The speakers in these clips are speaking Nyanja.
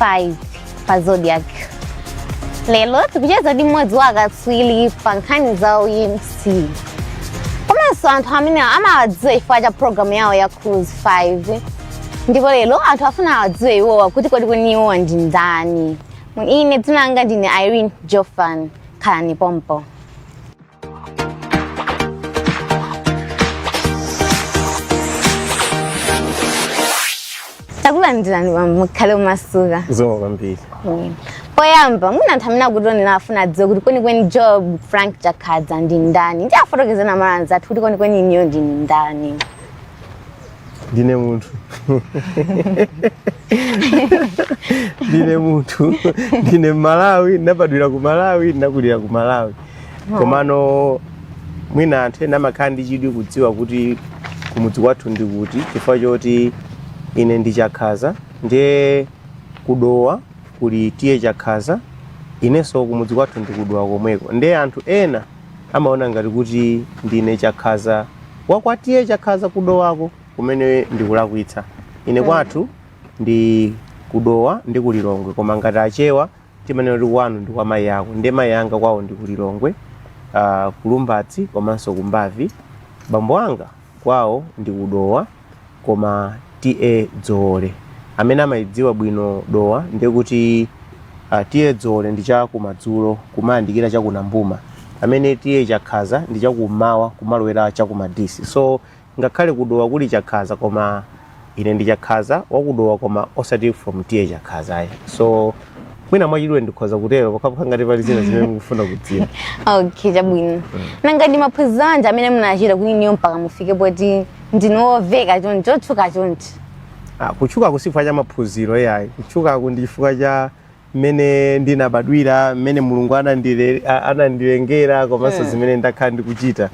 5 pa zodiac lero tikucheza ndi mmodzi wa akatswiri pa nkhani za umc komanso anthu amene mumawadziwa chifukwa cha programu yawo ya cruise 5 ndipo lero anthu afuna awadziwe iwowa kuti kodi kwenikweni iwowa ndi ndani ine dzina langa ndine irene jofan khalani pompo takulandirani mukhale omasuka zikomo kwambiri poyamba mwina anthu amene akutionera afuna adziwe kuti kwenikweni joab frank chakhaza ndi ndani ndiye afotokozereni amalawi anzathu kuti kwenikweni inuyo ndinu ndani ndine munthu ndine munthu ndine mmalawi ndinabadwira ku malawi ndinakulira ku malawi komano mwina anthu ena amakhala ndi chidwi kudziwa kuti kumudzi kwathu ndi kuti chifukwa choti ine ndi chakhaza ndiye kudowa kuli TA chakhaza inenso kumudzi kwathu ndi kudowa komweko ndiye anthu ena amaona ngati kuti ndine chakhaza wa kwa TA chakhaza kudowako kumene ndikulakwitsa ine mm. kwathu ndi kudowa ndi kulilongwe koma ngati achewa timanena kuti kwanu ndi kwa mayi ako ndi mayi anga kwawo ndi kulilongwe uh, kulumbadzi komanso kumbabvi bambo anga kwawo ndi kudowa koma TA Dzoole amene amaidziwa bwino Dowa ndiye kuti uh, TA Dzoole ndi cha kumadzulo kumayandikira cha ku Nambuma pamene TA Chakhaza ndi cha kummawa kumalowera cha ku Madisi so ngakhale ku Dowa kuli Chakhaza koma ine ndi Chakhaza wa ku Dowa koma osati from TA Chakhaza ayi so mwina mwachidule ndikhoza kutero pokhapokha ngati pali zina zimene mukufuna kudziwa okay chabwino nanga ndi maphunziro anji amene munachita kuti inuyo mpaka mufike poti ndinu omveka chonchi otchuka chonchi Ah, kutchukaku si chifukwa cha maphunziro ayi kutchukaku ndi chifukwa cha mmene ndinabadwira mmene mulungu anandile- a- anandilengera komanso zimene ndakhala ndikuchita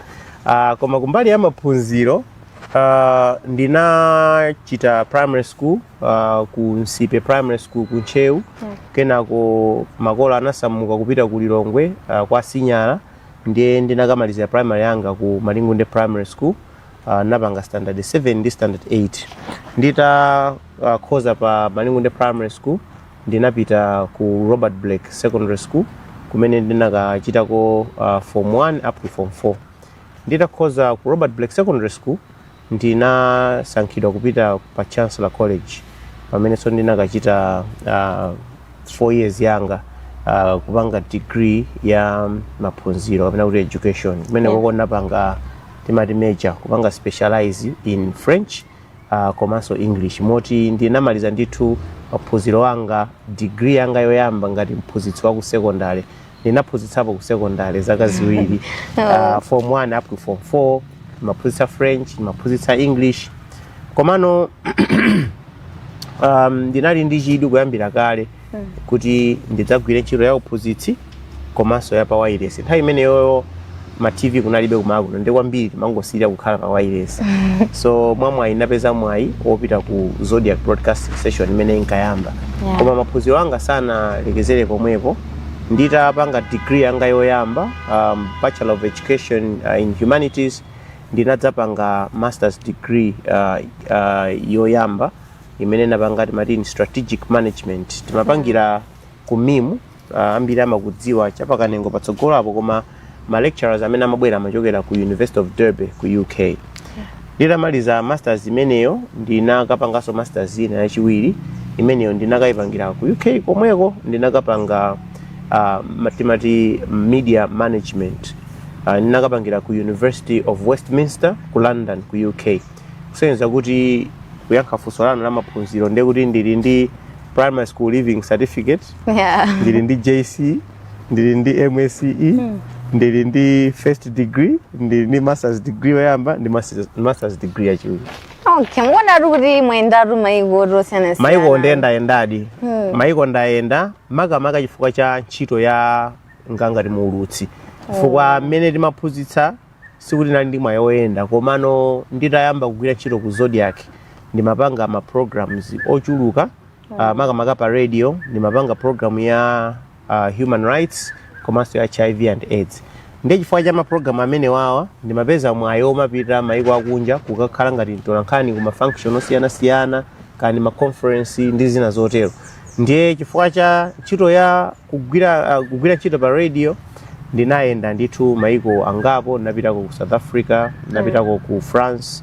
Ah, koma kumbali ya maphunziro ah, ndinachita primary school uh, ku nsipe primary school ku ntcheu kenako makolo anasamuka kupita ku lilongwe uh, kwa sinyala ndiye ndinakamalizira primary yanga ku malingunde primary school uh, napanga standard 7 ndi standard 8 nditakhoza uh, pa malingunde primary school ndinapita ku robert blake secondary school kumene ndinakachitako uh, form 1 up to form 4 nditakhoza ku robert blake secondary school Ndinasankhidwa kupita pa Chancellor College pamenenso ndinakachita uh, 4 years yanga uh, kupanga degree ya maphunziro kapena kuti education kumene Yeah. koko ndinapanga timati major kupanga specialize in French uh, komanso English moti ndinamaliza ndithu maphunziro anga degree yanga yoyamba ngati mphunzitsi wa ku secondary ndinaphunzitsapo ku secondary zaka ziwiri uh, form 1 up to form 4 ndimaphunzitsa french ndimaphunzitsa english komano um, ndinali ndi chidwi kuyambira kale kuti ndidzagwire ntchito ya uphunzitsi komanso ya pa wailesi nthawi imeneyoyo ma tv kunalibe kumakuno ndi kwambiri timangosirira kukhala pa wailesi so mwa mwayi napeza mwayi wopita ku zodiak broadcasting station imene inkayamba Yeah. koma maphunziro anga sanalekezere pomwepo nditapanga degree yanga yoyamba um, bachelor of education uh, in humanities ndinadzapanga masters degree uh, uh, yoyamba imene napanga timati strategic management timapangira ku mimu Ah, ambiri amakudziwa chapakanengo patsogolo apo koma ma lecturers amene amabwera amachokera ku university of derby ku uk nditamaliza masters imeneyo ndinakapanganso masters ina yachiwiri imeneyo ndinakayipangira ku uk komweko ndinakapanga ah, matimati media management Ah, ndinakapangira ku university of westminster ku london ku uk kusonyeza kuti kuyankha funso lanu la maphunziro ndiye kuti ndili ndi primary school leaving certificate university yeah. ndili ndi jce ndili ndi msce mm. ndili ndi first degree ndili ndi masters degree yoyamba ndi masters, masters degree yachiwiri okay mwaonatu kuti mwayendatu maiko osiyanasiyana maiko ndayendayendadi hmm. maiko ndayenda makamaka chifukwa cha ntchito yanga ngati muulutsi chifukwa oh. mmene ndimaphunzitsa sikuti nali ndi mwayi woyenda komano nditayamba kugwira ntchito ku zodiak ndimapanga ma programs ochuluka uh, makamaka pa radio ndimapanga program ya uh, human rights komanso ya hiv and aids ndi chifukwa cha maprogramu amene wawa ndimapeza mwayi omapita maiko akunja kukakhala ngati mtolankhani ku mafunction osiyanasiyana kani maconference ndi zina zotero ndiye chifukwa cha ntchito ya kugwira, uh, kugwira ntchito pa radio ndinayenda ndithu maiko angapo ndinapitako ku south africa ndinapitako ku france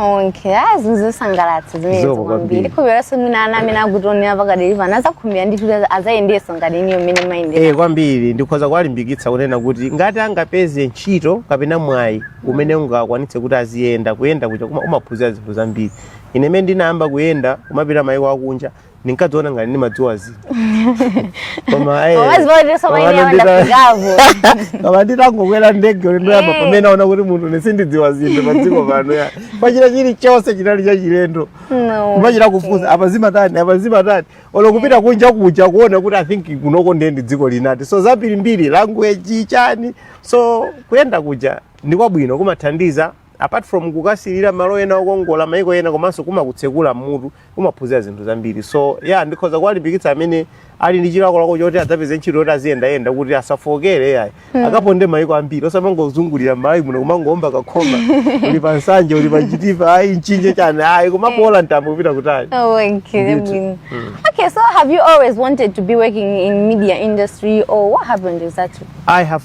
Okay, ah, zinthu zosangalatsa zimenezo Zoko kwambiri kwambiri. ndikhulupiriranso mwina ana amene akutionera pakadali pano azakhumbira ndithu kuti azayendeso ngati inuyo mmene mwayendera Eh, kwambiri ndikhoza kuwalimbikitsa kunena kuti ngati angapeze ntchito kapena mwayi umene ungakwanitse kuti aziyenda kuyenda kuja kuma- umaphunzira zinthu zambiri ine mmene ndinayamba kuyenda kumapita mayiko akunja ndinkadziona ngati ndimadziwa zina koma eh, Wazivotere soma koma ine yawanda ndita- kugavu. koma nditangokwera ndege ulendo oyamba Eh. pamene ndinaona kuti munthu sindidziwa zinthu padziko pano ya paja chilichonse chinali chachilendo No. kumachita kufunsa apa zimatani apa zimatani olo kupita kunja kuja kuona kuti i think kunoko ndiye ndi dziko lina so zambirimbiri language chani so kuyenda kuja ndi kwabwino kumathandiza apart from kukasilira malo ena okongola maiko ena komanso kumakutsekula mmutu umaphunzira zinthu zambiri so ya yeah, ndikhoza kuwalimbikitsa amene ali ndi chilakolako choti adzapeze ntchito yoti aziyendayenda kuti asafookere yayi mm. akaponde maiko ambiri osamangozungulira mmalawi muno kumangoomba kukhoma uli pa nsanje uli pa chitipa ayi mchinji chani ayi kumaboola mtambo kupita kutali oh, okay. Mm. okay so have you always wanted to be working in media industry or what happened exactly i have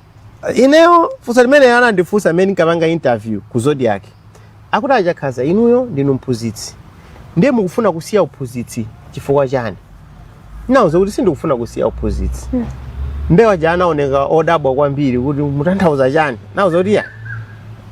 ineyo funso limene anandifunsa amene ndinkapanga interview ku zodiak akuti achakhaza inuyo ndinu mphunzitsi ndiye mukufuna kusiya uphunzitsi chifukwa chani ndinauza kuti sindikufuna kusiya uphunzitsi nde aja anaoneka odabwa kwambiri kuti mutanthauza chani nauza kuti ya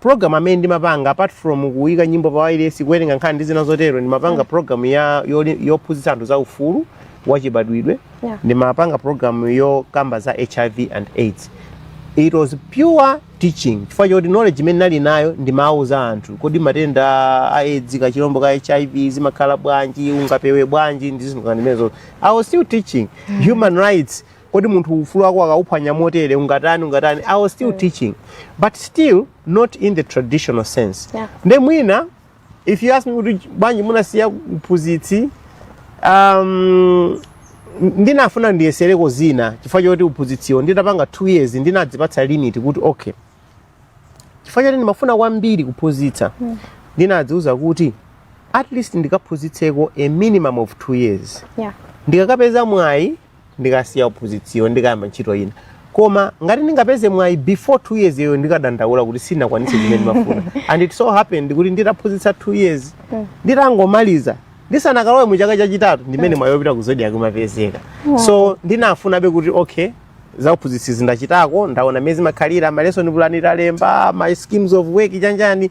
program amene ndimapanga apart from kuyika nyimbo pa wailesi kuwerenga nkhani ndi zina zotero ndimapanga program ya yoli- yophunzitsa anthu za ufulu wachibadwidwe Yeah. ndimapanga program yokamba za hiv and aids it was pure teaching chifukwa choti knowledge imene nali nayo ndimawuza anthu kodi matenda a aids kachilombo ka hiv zimakhala bwanji ungapewe bwanji ndi zinthu ngati zimenezo i was still teaching human rights kodi munthu ufulu wako akauphwanya motere ungatani ungatani i was still mm. teaching but still not in the traditional sense yeah. nde mwina if you ask me kuti bwanji munasiya uphunzitsi um, ndinafuna ndiyesereko zina chifukwa choti uphunzitsiwo nditapanga two years ndinadzipatsa limit kuti okay chifukwa choti ndimafuna kwambiri kuphunzitsa mm. ndinadziuza kuti at least ndikaphunzitseko a minimum of two years yeah. ndikakapeza mwayi ndikasiya uphunzitsiwo ndikayamba ntchito ina koma ngati ndikanapeza mwayi before two years iyo ndikadandaula kuti sinakwanise zimene ndimafuna and it so happened kuti nditaphunzitsa two years mm. nditangomaliza ndisanakalowe mu chaka chachitatu ndimene mm. mwayi wopita ku zodiak umapezeka mm. so ndinafunabe kuti okay zauphunzitsi zija ndachitako ndaona mmene zimakhalira malesson plan kulemba maschemes of work chanichani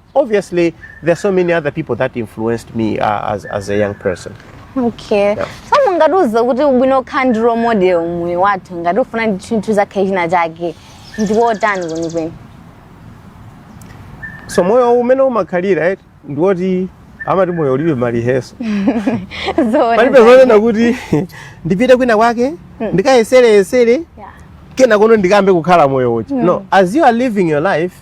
Obviously, there are so many other people that influenced me uh, as, as a young person. okay Yeah. so mungatiuze kuti ubwino okhala ndi role model mmoyo wathu ngati ufuna ndi chinthu kukhala china chake ndiwotani kwenikweni So moyo umene umakhalira right ndiwoti amati moyo ulibe marehearsal palibe zonena kuti ndipite kwina kwake ndikayesereyesere Yeah. kenako ndikayambe kukhala moyo weniweni no as you are living your life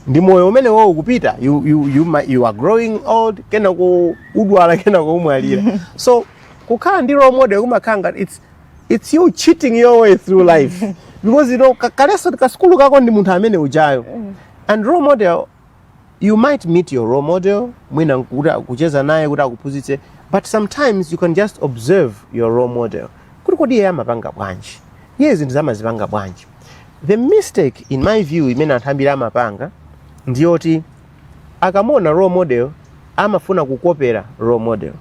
ndi moyo umenewo ukupita you, you, you, ma- you are growing old kenako udwala kenako umwalira so kukhala ndi role model kumakhala ngati it's, it's you cheating your way through life because you know ka- kalenso kasukulu kako ndi munthu amene ujayo and role model you might meet your role model mwina nkuti akucheza naye kuti akuphunzitse but sometimes you can just observe your role model kuti kodi iye amapanga bwanji iye zinthu zake amazipanga bwanji the mistake in my view imene anthu ambiri amapanga ndiyoti akamuona role model amafuna kukopera role model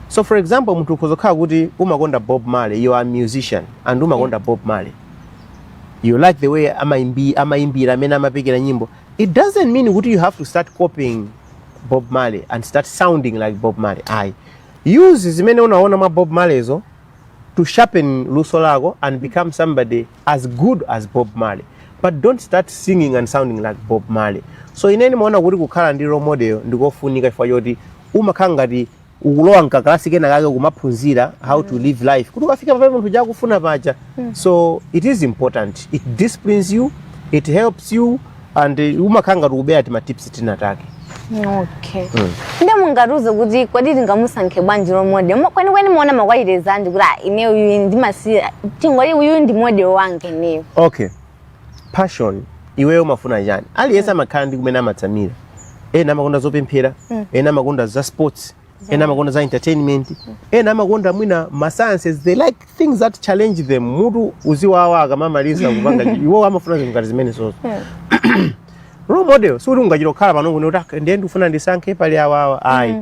so for example munthu ukhoza kukhala kuti umakonda bob marley you are a musician and umakonda bob marley you like the way amaimbi- amaimbira mmene amapekera nyimbo it doesn't mean kuti you have to start copying bob marley and start sounding like bob marley ayi Use zimene unaona mwa Bob Marleyzo to sharpen luso lako and become somebody as good as Bob Marley. But don't start singing and sounding like Bob Marley. So ine ndimaona kuti kukhala ndi role model ndikofunika chifukwa choti umakhala ngati ukulowa mkakalasi kena kake kumaphunzira how to live life kuti ukafika pa chinthu ukufuna paja so it is important it disciplines you it helps you and uh, umakhala ngati ukubera timatips tina take okay nde mungatiuze kuti kodi tingamusankhe bwanji role model Mo- kwenikweni mumaona makwalite anji kuti ah, ine uyu ndimasiya tingoti uyu ndi model wanga ineyo okay passion iweyo umafuna chani aliyense amakhala ndi kumene amatsamira ena amakonda zopemphera ena amakonda za sports ena amakonda za entertainment ena amakonda mwina ma sciences they like things that challenge them mutu uziwawa akamamaliza kupanga chi- iwo amafuna zinthu ngati zimenezozo role model sikuti ungachita kukhala pano kuti "Ah, ndiye ndikufuna ndisankhe pali awawa ayi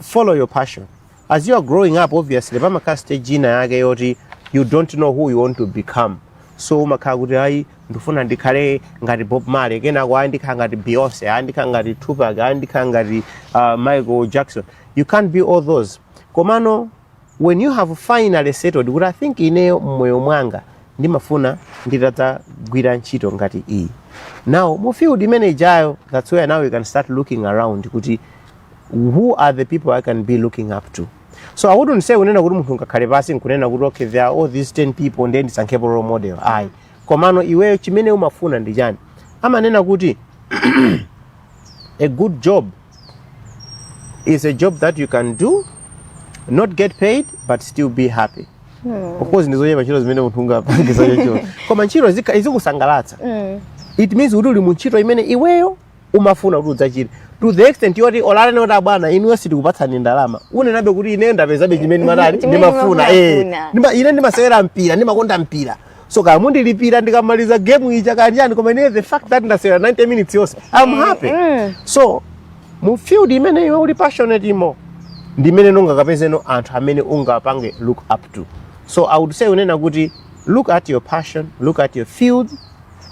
follow your passion as you are growing up obviously pamakhala stage ina yake yoti you don't know who you want to become so umakhala kuti ayi ndifuna ndikhale ngati bob marley kenako ayi ndikhala ngati beyonce ayi ndikhala ngati tupac ayi ndikhala ngati uh, michael jackson you can't be all those komano when you have finally settled kuti i think ineyo mmoyo mwanga ndimafuna nditadzagwira ntchito ngati iyi now mu field imene ijayo that's where now you can start looking around kuti who are the people i can be looking up to so i wouldn't say kunena kuti munthu angakhale pansi nkunena kuti okay there are all these 10 people ndiye ndisankhepo role model ayi komano iweyo chimene umafuna ndi chani amanena kuti a good job is a job that you can do not get paid but still be happy of course ndizochepa ntchito zimene munthu ungapange chocho koma ntchito zika- izikusangalatsa it means kuti uli mu ntchito imene iweyo umafuna kuti udzaachieve to the extent yoti olo anene kuti abwana inuyo sitikupatsani ndalama unenabe kuti ine ndapezabe chimene matani Chimene ndimafuna eh. ndimafuna. Ndima- ine ndimasewera mpira ndimakonda mpira so kaya mundilipira ndikamaliza game ija kapena ayi koma ine the fact that ndasewera 90 minutes yonse i'm happy mm. so mu field imene iwe uli passionate imo ndi imene ungakapezemo anthu amene ungapange look up to so i would say kunena kuti look at your passion look at your field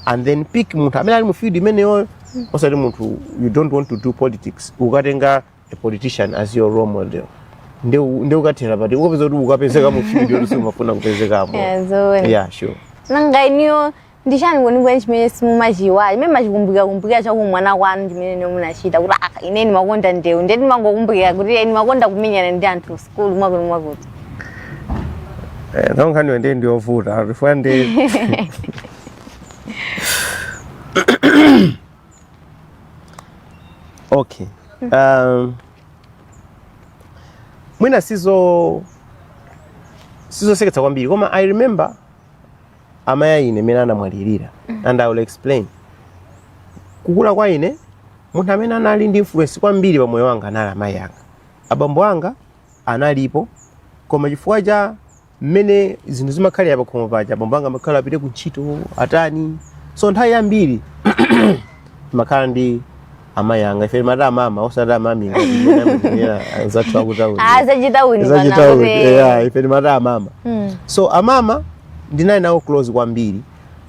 and then pick munthu amene ali mu field imeneyoyo osati munthu you don't want to do politics ukatenga a politician as your role model nde nde ukathera pati ukapeza kuti ukapezeka mu field yoti sumafuna kupezekamo Yeah, zoona. yeah sure nanga inuyo ndi chani kwenikweni chimene simumachiiwala chimene mumachikumbukira kumbukira cha kuubwana kwanu chimene inuyo munachita kuti aka ine ndimakonda ndewu ndiye ndimangokumbukira kuti ine ndimakonda kumenyana ndi anthuso kulu mwakuti mwakuti Eh, nawo nkhaniyo ndi ndiyovuta chifukwa ndi okay um, mwina sizo sizoseketsa kwambiri koma i remember amayi a ine mmene anamwalirira and i will explain kukula kwa ine munthu amene anali ndi influence kwambiri pa moyo wanga anali amayi anga Abambo anga analipo, koma chifukwa cha mmene zinthu zimakhalira pakhomo paja, abambo anga amakhala apite ku ntchito, atani. So nthawi yambiri timakhala ndi amayi anga, ife timati amama osati amami ngati mmene amatchulira anzathu akutauni. Ah, zachitauni pano Zachitauni, kuti- yeah, ife timati amama. Mm. So amama ndinali nawo close kwambiri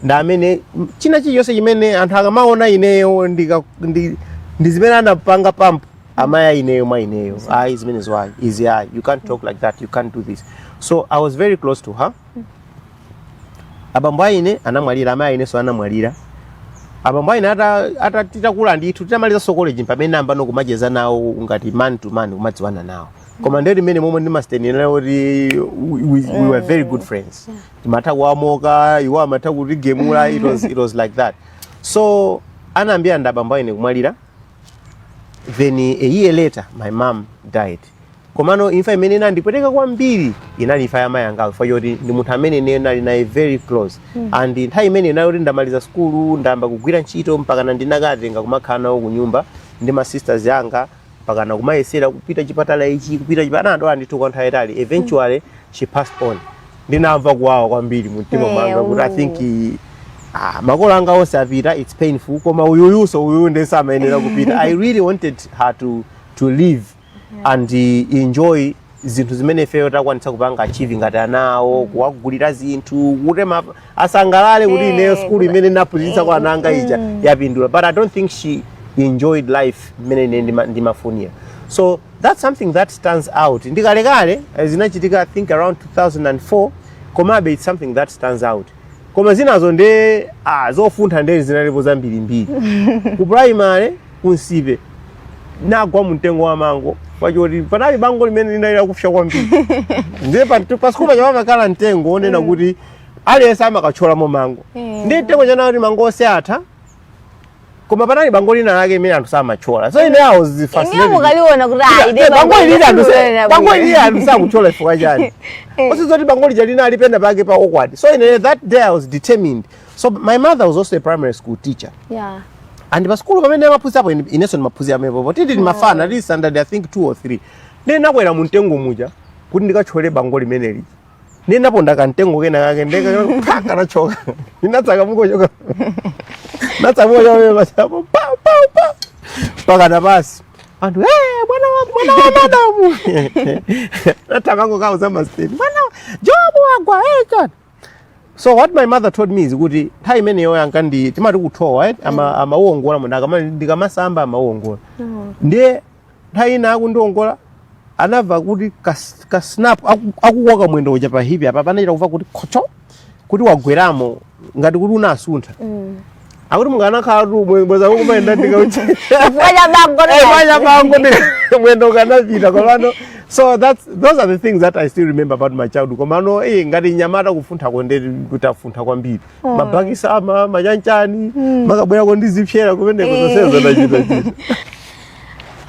ndi amene m- china chilichonse chimene anthu akamaona ineyo ndika- ndi ndi zimene anapanga pamo amayi a ineyo mwa ineyo ayi zimenezo ayi izi ayi you can't talk like that you can't do this so i was very close to her abambo a ine anamwalira amayi a inenso anamwalira abambo a ine ata- ata- titakula ndithu titamalizanso college pamene tinayambano kumacheza nawo ngati man to man kumadziwana nawo koma ndi nthawi imene momwe ndimanenera kuti we, we, we were very good friends timatha kuwamocka iwo amatha kutigemula it was, it was like that so anayambira ndi abambo a ine kumwalira then a year later my mom died komano imfa imene inandipweteka kwambiri inali imfa ya mayi angayo chifukwa choti ndi munthu amene ine ndinali naye very close mm. and nthawi imene inali kuti ndamaliza sukulu ndayamba kugwira ntchito mpakana ndinakawatenga kumakhala nawo kunyumba ndi ma sisters anga mpakana kumayesera kupita chipatala ichi kupita chipatala anadwala ndithu kwa nthawi yayitali eventually she passed on ndinamva kuwawa kwambiri mu mtima mwanga kuti i think ah, makolo anga onse apita it's painful koma uyuyuso uyu ndiyenso amayenera kupita i really wanted her to, to live and uh, enjoy zinthu zimene ifeyo takwanitsa kupanga achieve ngati anawo kuwagulira zinthu kuti ma- asangalale kuti Eh, ineyo skulu imene ndaphunzitsa ana anga ija yapindula but i don't think she enjoyed life mmene ine ndima- ndimafunira so That's something that stands out. Ndikalekale eh, zinachitika I think around 2004 komabe it's something that stands out. Koma zinazo ndi ah zofuntha nde zinalipo zambirimbiri. Ku primary kunsipe ndinagwa mumtengo wa mango pakuti panali bango limene linali lakupsa kwambiri ndiye pasukulu paja pamakhala mtengo onena mm. kuti aliyense amakatcholamo mango mm. ndiye mtengo uja anati kuti mango onse atha koma panali bango lina lake limene anthu samatchola so ine awo ineyo ndikaliona kuti ayi nde bango ili lina anthu sa- bango ili lina anthu sakutchola chifukwa chani Eh. osadziwa zoti bango lija linali penapake pa awkward so ine that day i was determined so my mother was also a primary school teacher yeah and pasukulu pamene amaphunzitsapo ine- inenso ndimaphunzira pompo tili timafana tili standard i think two or three ndinakwera mu mtengo muja kuti ndikatchole bango limeneli ndinaponda kamtengo kena kake nde kanachoka ndinatsaka mukochoka natsa mukochoka basi apo pa pa pa mpakana pansi anthu "Eh, mwana wa mwana wa madamu anangokawauza masteni mwana jobu wagwa eh, God." so what my mother told me is kuti nthawi imeneyo asing'anga timati kuthowa eh, ama- amawongola munthu akamati ndikamasamba amawongola ndiye nthawi ina akundiongola anamva kuti ka- ka snap aku- akukoka mwendo uja pa hipi apa anachita kumva kuti khocho kuti wabwereramo ngati kuti unasuntha akuti ukanakhala too worse bwenzi ukumayenda ndi ka wheelchair chifukwa cha bango Eh, mania a bango ndi mwendo ukanapita komano so that's those are the things that i still remember about my childhood komano eh ngati nyamata kufunthako nde tafuntha kwambiri Oh. mabokosi ama machanchani mm. mumakabwerako ndi zipsera kumeneko eh. zonsezo ndachitachita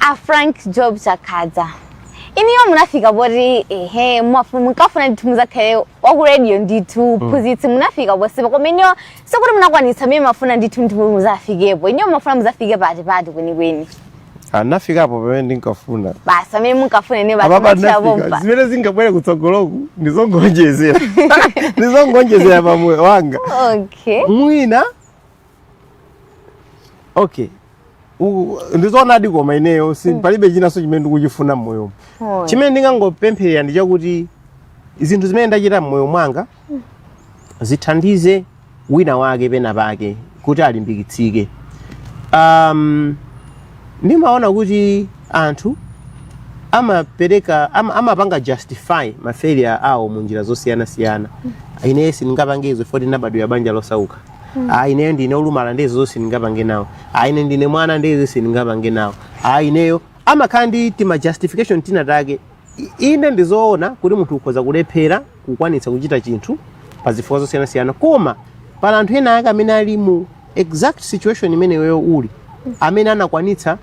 a Frank Joab Chakhaza inuyo munafika poti ehe munkafuna ndithu muzakhale wakuradio ndithu mm. uphunzitsi munafika ponsepa koma inuyo sikuti munakwanitsa zimene mumafuna ndithu ndithu muzafikepo inuyo mumafuna muzafike pati pati kwenikweni ndinafikapo pamene ndinkafuna basi pamene ndinkafuna ine basi apapa machira ndinafika pompa zimene zingabwere kutsogoloku ndizongonjezera ndizongonjezera pa moyo wanga okay mwina okay U- ndizoonadi koma ineyo si palibe chinanso chimene ndikuchifuna mmoyomo Oh. chimene ndingangopempherera ndi chakuti zinthu zimene ndachita mmoyo mwanga zithandize wina wake pena pake kuti alimbikitsike um, ndimaona kuti anthu amapereka ama, amapanga justify ma failure awo mu njira zosiyanasiyana ineyo sindingapange izo poti ndinabadwira banja losauka ah ineyo ndine olumala ndi izo zonse sindingapange nawo ah ine ndine mwana ndi izo sindingapange nawo ah ineyo amakhala ndi tima justification tina take Inde ndi zoona kuti munthu ukhoza kulephera kukwanitsa kuchita chinthu pa zifukwa zosiyanasiyana koma pali anthu ena ake amene ali mu exact situation imene iweyo uli amene anakwanitsa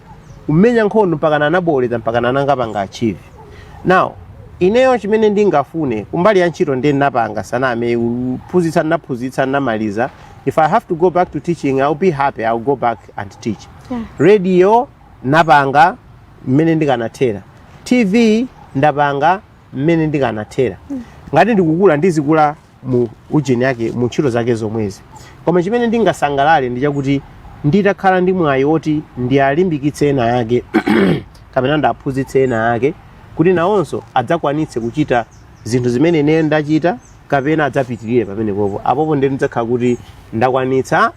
kumenya nkhondo mpakana anabowoleza mpakana anapanga achieve now ineyo chimene ndingafune kumbali ya ntchito ndiye ndinapanga saname kuphunzitsa ndinaphunzitsa ndinamaliza if i have to go back to teaching ill be happy ill go back and teach Yeah. radio napanga mmene ndikanathera tv ndapanga mmene ndikanathera ngati ndikukula ndizikula mu ujeni yake mu ntchito zake zomwezi koma chimene ndingasangalale ndi chakuti nditakhala ndi mwayi woti ndiwalimbikitse ena ake kapena ndiwaphunzitse ena ake kuti nawonso adzakwanitse kuchita zinthu zimene ine ndachita kapena adzapitirire pamenepopo apopo ndiye ndidzakhala kuti ndakwanitsa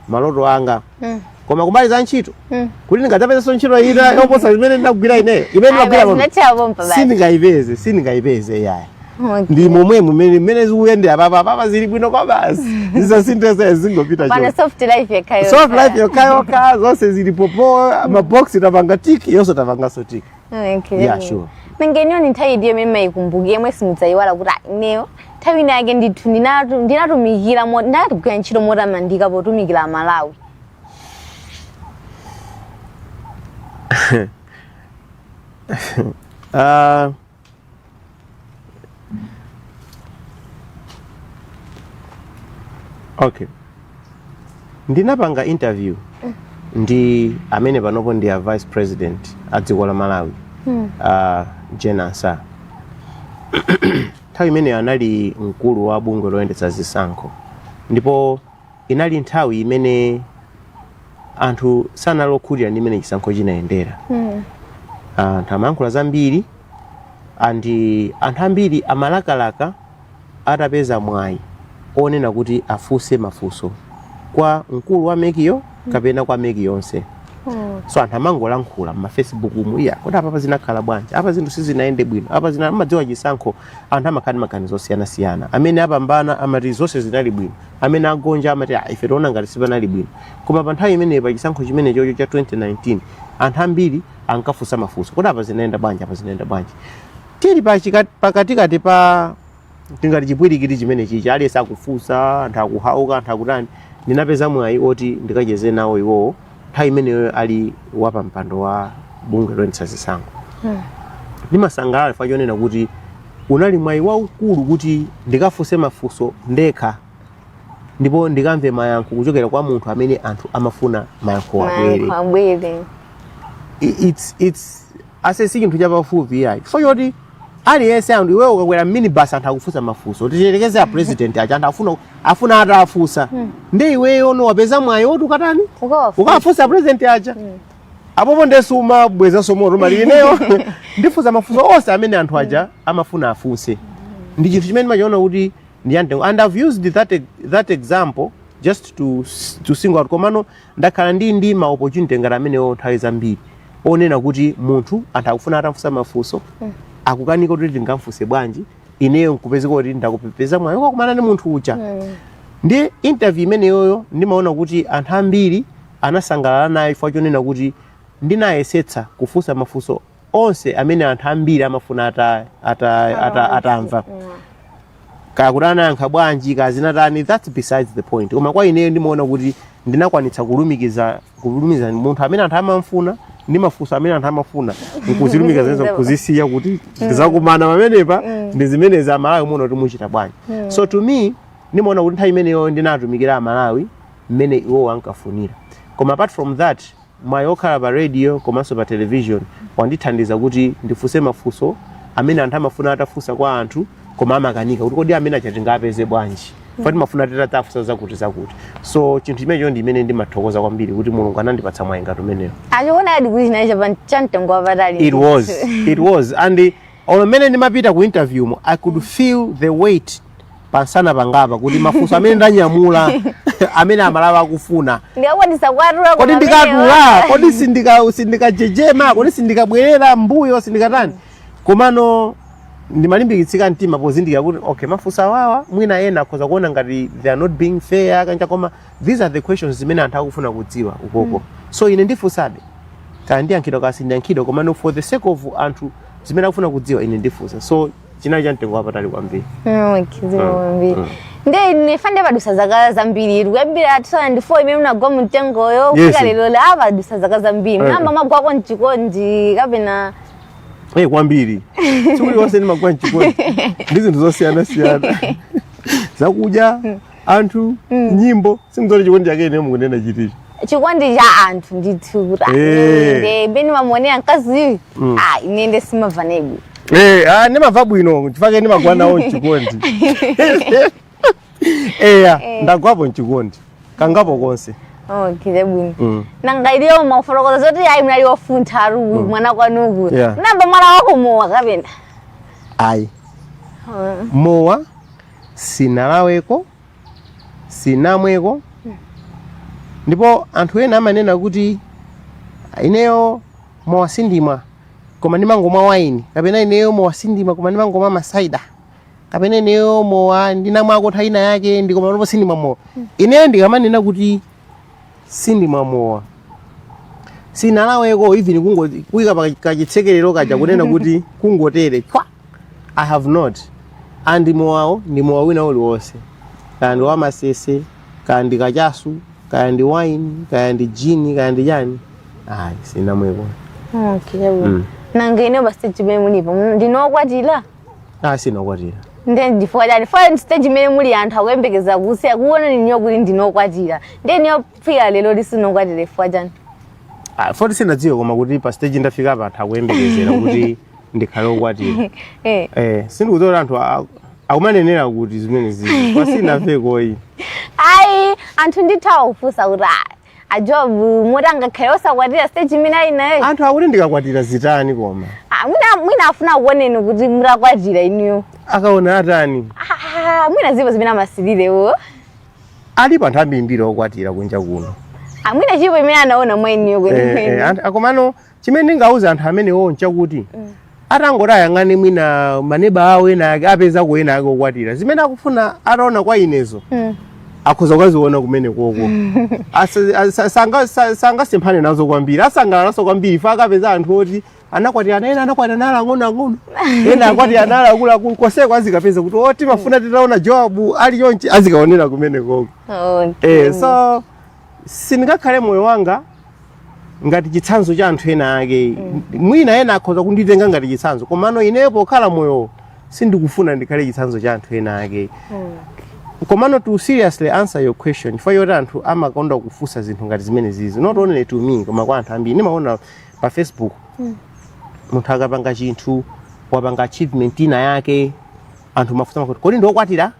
maloto anga Mm. koma kumbali ya ntchito Mm. kuti ndingadzapezanso ntchito ina yoposa imene ndinagwira ineyo imene Ayi, ndinagwira basi, pano nathera pompa basi. sindingayipeze sindingayipeze yaya Okay. ndi momwe mumene mmene zikuyendera apapa apapa zili bwino kwa basi zisasinthe zingopita Pano chonse. soft life yokhayo. soft life yokhayokha zonse zili pompo mabokosi tapanga tiki yonse tapanganso tiki Okay. Yeah, sure. mengeniyo ndi nthawi iti yomwe mmayikumbuka yomwe simudzayiwala kuti "Ah, ineyo nthawi ina yake ndithu ndinatu- ndinatumikira mo- ndinagwira ntchito motamandika potumikira amalawi Ah, okay ndinapanga interview ndi amene panopo ndi a vice president a dziko la malawi Hmm. a Jane Ansah nthawi imeneyo anali mkulu wa bungwe loyendetsa zisankho ndipo inali nthawi imene anthu sanali okhutira ndi mmene chisankho chinayendera Mm. anthu amayankhula zambiri and anthu ambiri amalakalaka atapeza mwayi onena kuti afunse mafunso kwa mkulu wa MEC-yo kapena kwa MEC yonse Oh. so anthu amangolankhula mmafacebook umu iya kodi apapa zinakhala bwanji apa zinthu sizinayende bwino apa zina amadziwa chisankho anthu amakhala ndi maganizo osiyanasiyana amene apambana amati zonse zinali bwino amene agonja amati "Ah, ife tiona ngati sipanali bwino" koma pa nthawi imeneyo pa chisankho chimenechocho cha 2019 anthu ambiri ankafunsa mafunso kodi apa zinayenda bwanji apa zinayenda bwanji tili pa chika- pakatikati pa tingati chipwirikiti chimene chichi aliyense akufunsa anthu akuhauka anthu akutani ndinapeza mwayi oti ndikacheze nawo iwowo nthawi imeneyo ali wapampando wa bungwe loyendetsa zisankho Mm. ndimasangalala chifukwa chonena kuti unali mwayi waukulu kuti ndikafunse mafunso ndekha ndipo ndikamve mayankho kuchokera kwa munthu amene anthu amafuna mayankho abwere Mayankho abwere. I- it's, it's, I'd say si chinthu chapafupi yayi chifukwa choti aliyense anthu iweyo ukakwera minibus anthu akufunsa mafunso tiyerekeze a president aja anthu akufuna afuna atafunsa hmm. nde iweyo ndiwe wapeza mwayi woti ukatani ukafunse a president aja hmm. apopo nde sumabwezanso moto umati ineyo ndifunsa mafunso onse amene anthu aja hmm. amafuna afunse ndi chinthu chimene ndimachiona kuti ndi chamtengo and i've used that, that example just to, to single out komano Ndakhala ndili ndi ma opportunity ngati amenewo nthawi zambiri onena kuti munthu anthu akufuna atamfunsa mafunso akukanika kuti tingamfunse bwanji ineyo nkupezeka kuti ndakapeza mwayi wokakumana ndi munthu uja ndi interview imeneyoyo ndimaona kuti anthu ambiri anasangalala nayo chifukwa chonena kuti ndinayesetsa kufunsa mafunso onse amene anthu ambiri amafuna ata, ata, ata, atamva kaya kuti anayankha bwanji kaya zinatani that's besides the point koma kwa ineyo ndimaona kuti ndinakwanitsa kulumikiza kulumikiza munthu amene anthu amamfuna ndi mafunso amene anthu amafuna nkuzilumikiza zimenezo nkuzisiya kuti zakumana pamenepa ndi zimenezi amalawi muona kuti muchita bwanji so to me ndimaona kuti nthawi imeneyo ndinatumikira amalawi mmene iwowo ankafunira koma apart from that Mwayi okhala pa radio komanso pa television wandithandiza kuti ndifunse mafunso amene anthu amafuna atafunsa kwa anthu koma amakanika kuti kodi amene aja tingaapeze bwanji chifukwa timafuna titaafunsa zakuti zakuti so chinthu chimenecho ndi chimene ndimathokoza kwambiri kuti mulungu anandipatsa mwayi ngati umenewo Machiona di kuti chinali chapa- cha mtengo wapatali. it was it was and Olo mmene ndimapita ku interview mo I could feel the weight pansana pangapa kuti mafunso amene ndanyamula amene amalawi akufuna ndikakwanitsa kuwatula kodi ndikatula kodi sindika sindikajejema kodi sindikabwerera mbuyo sindikatani komano ndimalimbikitsika mtima pozindikira kuti okay mafunso awawa mwina ena akhoza kuona ngati they are not being fair kwa ujeni koma these are the questions zimene anthu akufuna kudziwa ukoko mm. so ine ndifunsabe kaya ndiyankhidwa kaya sindiyankhidwa komano for the sake of anthu zimene akufuna kudziwa ine ndifunsa so chinali cha mtengo wapatali kwambiri mm, mm, mm. nde apa nde padutsa zaka zambiri di kuyambira 2004 imene munagwa mumtengoyo kufika lero eh a padutsa zaka zambiri eh. munayamba mwagwako mchikondi kapena e kwambiri tsiku lilonse ndimagwa mchikondi ndi zinthu zosiyanasiyana zakudya anthu Mm. nyimbo si zoti chikondi chake ine mukunena chonchi chikondi cha anthu ndithu Eh. inde beni mamuonera mkaziyu Mm. ah ine nde simavanebu Eh, ah, ndimamva bwino chifukwa ndimagwa nawo mchikondi eya Eh. ndagwapo mchikondi kangapo konse okay chabwino Mm. nanga inuyo mumafotokoza zoti ayi mnali wafuntha ari uyu mwana kwanuku Yeah. munayamba mwamwako mowa kapena ayi mowa sinalaweko sinamweko ndipo anthu ena amanena kuti ineyo mowa sindimwa koma ndimangomwa waini kapena ineyo mowa sindimwa koma ndimangomwa masaida kapena ineyo mowa ndinamwako nthawi ina yake koma pano sindimwa mowa ineyo ndikamanena kuti sindimwa mowa sinalaweko even kungo kuika pa kachitsekerero kaja kunena kuti kungotere chwa i have not and mowawo ndi mowa wina uliwonse kaya ndi wa masese kaya ndi kachasu kaya ndi wine kaya ndi jini kaya ndi chani ayi sinamweko Okay, chabwino. Mm. nanga inu pa stage pene mulipo ndinu okwatira Ah, sindinakwatire. nde ndifukwa chani for stage imene muli anthu akuyembekezera kufuna kuona inuyo kuti ndinu okwatira nde inuyo kufika lero sinu okwatira chifukwa chani Ah, poti sinadziwe koma kuti pa stage ndafika apa anthu akuyembekezera kuti ndikhale okwatira. Eh, Eh, sindikudziwa kuti anthu a- akumanenera kuti zimene zili. Kwa sinamvekoyi. ayi anthu ndi nthawi kufunsa kuti ah, a Job moti angakhale osakwatira stage imene ali nayo anthu akuti ndikakwatira zitani koma Ah, mwina- mwina afuna akuoneni kuti mutakwatira inuyo akaona zotani Ah, mwina zilipo zimene amasirira iwo alipo anthu ambirimbiri okwatira kunja kuno Ah, mwina chilipo chimene anaona mwa inuyo Eh, eh, kwenikweni anthu- komano chimene ndingauze anthu amenewo nchakuti mm. atangoti ayang'ane mwina maneba awo ena ake apezako ena ake okwatira zimene akufuna ataona kwa inezo mm. akhoza kukaziona kumene koko sangasemphane nazo kwambiri asangalala nazo kwambiri chifukwa akapeza anthu oti anakwatira ana ena anakwatira ali aang'ono ang'ono ena akwatira ali akuluakulu konseko azikapeza kuti o oh, timafuna titaona Job ali chonchi azikaonera kumene koko okay. eh, so sindingakhale moyo wanga ngati chitsanzo cha anthu ena ake mwina ena akhoza kunditenga ngati chitsanzo komano ineyo pokhala moyo sindikufuna ndikhale chitsanzo cha anthu ena ake komano to seriously answer your question chifukwa choti anthu amakonda kufunsa zinthu ngati zimenezizi not only to me koma kwa anthu ambiri ndimaona pa facebook munthu akapanga chinthu wapanga achievement ina yake anthu amafunsa amvekere kodi ndiokwatira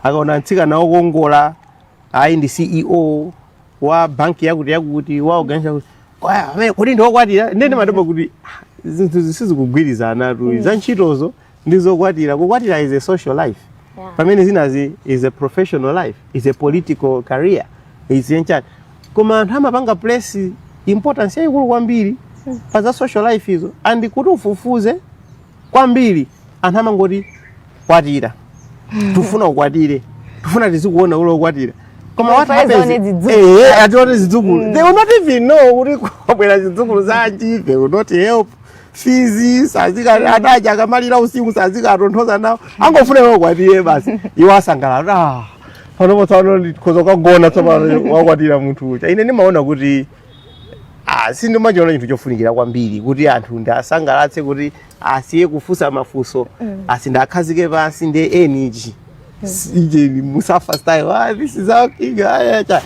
akaona mtsikana wokongola ayi ndi ceo wa banki yakuti yakuti wa organization yakuti kaya, amene kodi ndi wokwatira ndiye ndimadabwa kuti "Ah, zinthu izi sizikugwirizanatu za ntchitozo ndi zokwatira, kukwatira is a social life Yeah. pamene zinazi is a professional life is a political career is ndi chani koma anthu amapanga place importance yayikulu kwambiri pa za social life izo and kuti ufufuze kwambiri anthu amangoti kwatira tufuna ukwatire tufuna tizikuona uli wokwatira koma what Tufuna happens tione zidzukulu. eh tione zidzukulu they will not even know kuti kwabwera zidzukulu zanji they will not help fizi sadzafika ada aja akamalira usiku sadzakatonthoza nawo angofuna iwe ukwatire basi iwo asangalala ah panopo tsopano ndikhoza kukagona tsopano wakwatira munthu uja ine ndimaona kuti Ah, sindimachiona chinthu chofunikira kwambiri kuti anthu ndiasangalatse kuti asiye kufunsa mafunso mm. asandikhazike pansi ndi enichi ijeni musafa style ah, this is our king aya cha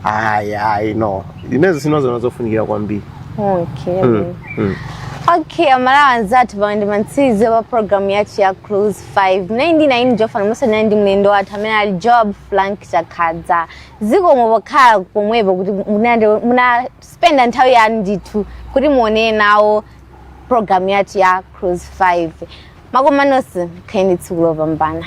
aya ayi no inezo sindiziona zofunikira kwambiri okay mm. Mm. okay aMalawi anzathu pamenepa ndi mamalizidwe a programu yathu ya cruise 5 nayi ndi nayi ndi Joab Frank Chakhaza pamene ndi mlendo wathu amene ali Joab Frank Chakhaza zikomo pokhala pomwepo kuti munande- munaspenda nthawi yanu ndithu kuti muonere nawo programu yathu ya cruise 5 timakukondani nonse khalani ndi tsiku lopambana